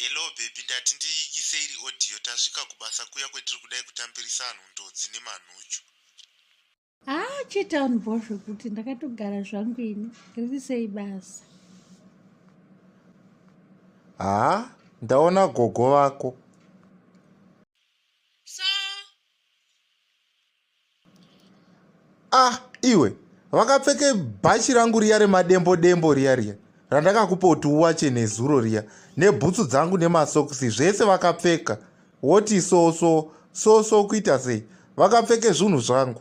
Hello baby ndati ndiikise iri audio tasvika kubasa kuya kwetiri kudai kutambirisa anhu ndodzi nemanhuchu. Ah chete anhu bho zvekuti ndakatogara zvangu ini riri sei basa. Haa ah, ndaona gogo vako. ah iwe vakapfeke bhachi rangu riya remadembo dembo riya riya randakakupa kuti uwache nezuro riya nebhutsu dzangu nemasokisi zvese vakapfeka woti so so so so kuita sei vakapfeke zvinhu zvangu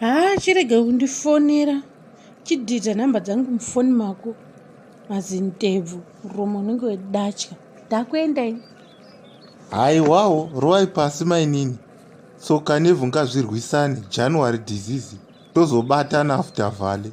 haa chirege kundifonera chidhidha nhamba dzangu mufoni mako mazintebvu muromo unenge wedatya ndakuenda ini haiwawo rovai pasi mainini so kanevhu ngazvirwisane january disease tozobatana after vale